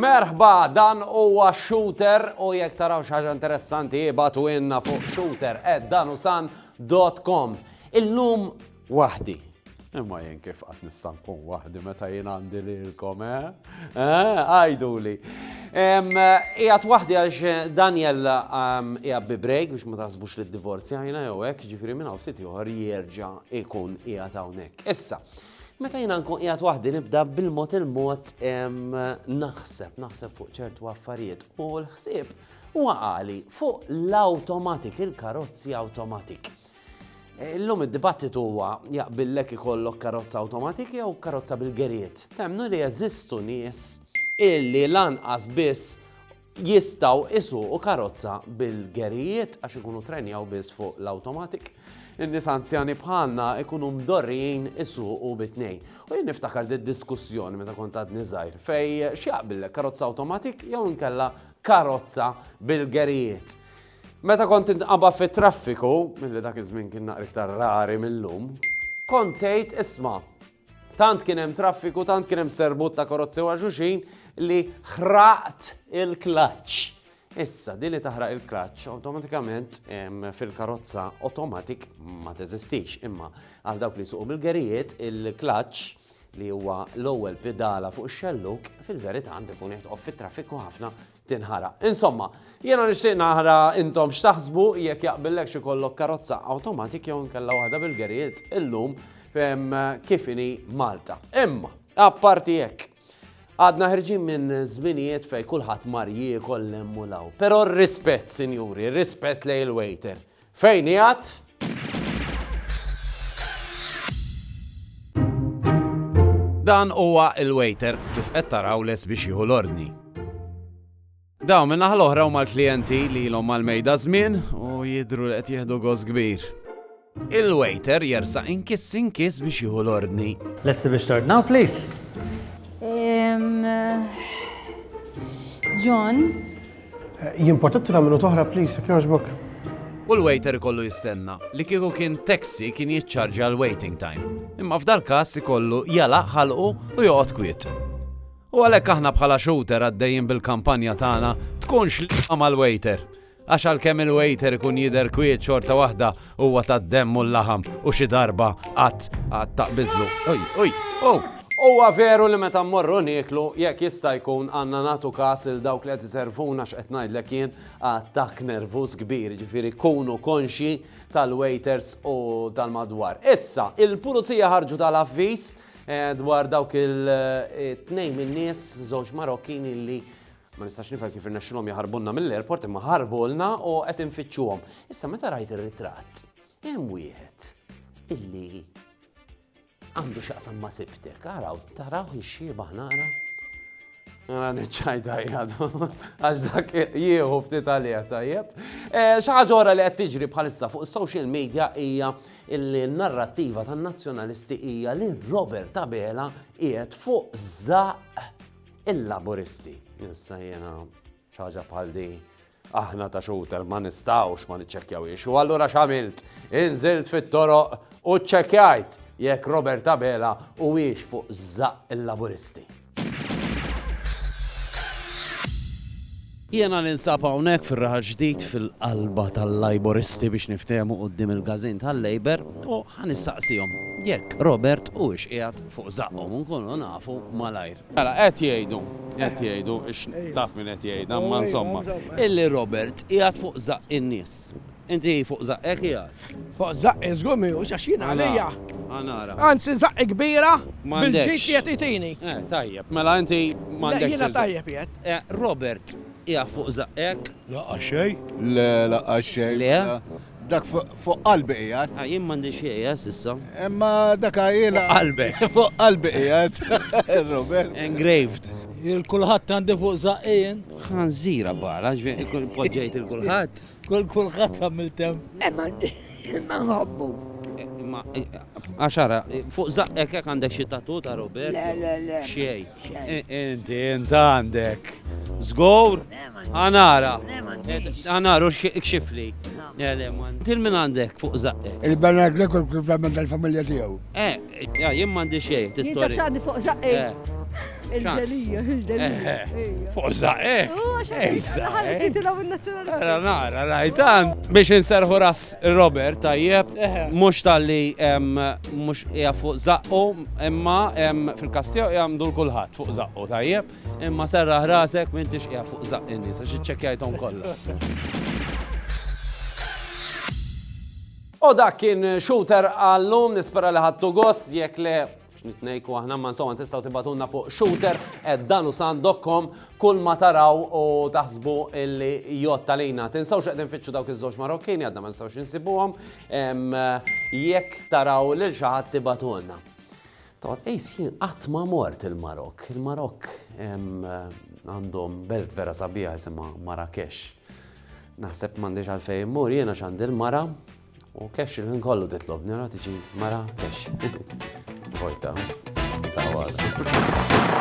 Merħba, dan huwa shooter u jekk taraw xi ħaġa interessanti ibatu inna fuq shooter at danusan.com. Illum Waħdi. Imma jien kif qatt nista' nkun waħdi meta jien għandi lilkom, eh? Eh, għajduli. Ijat waħdi għax eh, Daniel ijab bi break biex ma tasbux li d-divorzja jina jew hekk ġifiri minna ftit joħor jerġa' ikun ijat hawnhekk. Issa, Meta jina nkun qiegħed waħdi nibda bil-mod il-mod naħseb, naħseb fuq ċertu affarijiet u l-ħsieb waqali fuq l-automatik, il-karozzi automatik. Illum id-dibattitu huwa jaqbillek ikollok karozza awtomatik jew karozza bil-gerijiet. Temmnu li jeżistu nies illi lanqas biss jistaw isuqu karozza bil-gerijiet għax ikunu trenjaw biss fuq l-automatic. In-nies anzjani bħalna ikunu mdorrijin isuqu bit-tnejn. U jien niftakar di diskussjoni meta kont għadni żgħir fej x'jaqbillek karozza automatic jew inkella karozza bil-gerijiet. Meta kont tinqaba' fit-traffiku, li dak iż-żmien kien naqra iktar rari mil-lum, kont tgħid isma' tant kien hemm traffiku, tant kien hemm serbut ta' karozzi wara xulxin li ħraqt il-klaċċ. Issa, din li taħraq il-klaċċ awtomatikament fil-karozza automatic ma teżistix, imma għal dawk li suqu bil-gerijiet il-klaċċ li huwa l-ewwel pidala fuq ix-xelluk, fil-verità għandu jkun jitqof fit-traffiku ħafna tinħaraq. Insomma, jiena nixtieq nara intom x'taħsbu jekk jaqbillek xi kollok karozza awtomatik jew inkella waħda bil-gerijiet illum kif inhi Malta. Imma, apparti hekk, għadna ħirġin minn żminijiet fej kulħadd mar jiekol l u law. Però rispett, sinjuri, rispett lej il-waiter. Fejn qiegħed? Dan huwa l-waiter kif qed taraw les biex jieħu l-ordni. Dawn minn naħa l-oħra huma l-klijenti li ilhom mal-mejda żmien u jidhru li qed jieħdu goż kbir. Il-waiter jersa inkiss inkiss biex jieħu l-ordni. Lesti biex tordnaw, please. John, Jien potetra minu toħra please, jekk jogħġbok. U l-waiter ikollu jistenna. Li kieku kien taxi kien jiċċarġa l-waiting time. Imma f'dal-każ ikollu jalaq ħalqu u joqgħod kwiet. U għalhekk aħna bħala shooter għaddejjin bil-kampanja tagħna tkunx l mal-waiter. Għax għalkemm il-waiter ikun jidher kwiet xorta waħda Huwa tad-demm u l-laħam u xi darba qatt qatt taqbiżlu. Oj, oj, ow! Huwa veru li meta mmorru nieklu, jekk jista' jkun għandna nagħtu kas lil dawk li qed iservuna x'qed ngħidlek jien, attakk nervuż kbir, jiġifieri kunu konxji tal-waiters u tal-madwar. Issa, il-Pulizija ħarġu tal-avviż dwar dawk il-tnejn min-nies, żewġ Marokkini li Ma nistax nifhem kif irnexxilhom jaħarbulna mill-airport imma ħarbulna u qed infittxuhom. Issa meta rajt ir-ritratt, hemm wieħed illi għandu xaqsam ma sibtek, għaraw, taraw jixxieba nara. Għara neċċajda jgħadu, għax dak jieħu ftit għalija tajjeb. Eh, ħaġa li qed tiġri bħalissa fuq social media hija il-narrativa tan-nazzjonalisti hija li Robert Abela qiegħed fuq zaq Il-Laburisti. Issa jiena xi ħaġa bħal di aħna ta' xuter ma nistgħux ma niċċekkjawhiex. U allura x'għamilt? Inżilt fit-toroq u ċċekkjajt jekk Robert Abela huwiex fuq żaq il-Laburisti. Jiena ninsab hawnhekk fir-Raħal Ġdid fil-qalba tal-Lajburisti biex niftehmu quddiem il-każin tal-Labour u ħa nistaqsihom jekk Robert huwiex qiegħed fuq żaqqhom u nkunu nafu malajr. Mela, qed jgħidu, qed jgħidu, taf min qed jgħidha, imma insomma, illi Robert qiegħed fuq żaqq in-nies. Inti fuq żaqqek qiegħed? Fuq żaqqi żgur mhijiex għax jien għalija. Ħa nara. Anzi żaqqi kbira bil-ġid qiegħed jagħtini. Eh, tajjeb, mela inti m'għandekx. Le jiena tajjeb qiegħed. Eh, Robert, qiegħed fuq żaqqek? Lanqas xejn. Le, lanqas xejn. Le? Dak fuq qalbi qiegħed. Ah, jien m'għandi xejn, eh, s'issa. Imma dak għajjilha. Fuq qalbek. Fuq qalbi qiegħed. Robert. Engraved. Il-kulħadd għandi fuq żaqqi jien. Ħanżira bara, ġifieri poġġejt il-kulħadd. Kull kulħadd għamil tem. Imma imma nħobbu. Imma għaxara, fuq zaqqek hekk għandek xi tatu ta' Robert? Le, le, le. Xej. Inti inti għandek. Zgur? Għanara. Għanaru xifli. Til minn għandek fuq zaqqek. Il-Bernard Lekol kif għamil tal-familja tiegħu. Eh, Jah, jien m'għandi xejn. Jien taf x'għandi fuq żaqqi. Il-delija, il-delija. Fuq żaqqi? Ejsa. Ħallisitilhom in-nazzjonalisti. Ara nara, rajtan. Biex inserħu ras Robert tajjeb, mhux talli mhux hija fuq żaqqu, imma fil-każ tiegħu hija mdur kulħadd fuq żaqqu tajjeb, imma serraħ rasek m'intix qiegħed fuq żaqq in-nies għax iċċekkjajthom kollha. U dak kien Shooter għallum, nispera li ħadtu gost, jekk le x'nit ngħidku aħna ma insomma tistgħu tibatulna fuq shooter at danusan.com kull ma taraw u taħsbu illi jott għalina. Tinsawx qegħdin fitxu dawk iż-żewġ Marokkini għadna ma nistgħux insibuhom jekk taraw lil xi ħadd tibatulna. Tgħod tqis jien qatt ma mort il-Marokk. Il-Marokk għandhom belt vera sabiħa jisimha Marrakesh. Naħseb m'għandix għalfejn immur jiena x'għandi l-mara u kex il-ħin kollu titlob nara tiġi mara kex. Vojta. Ta'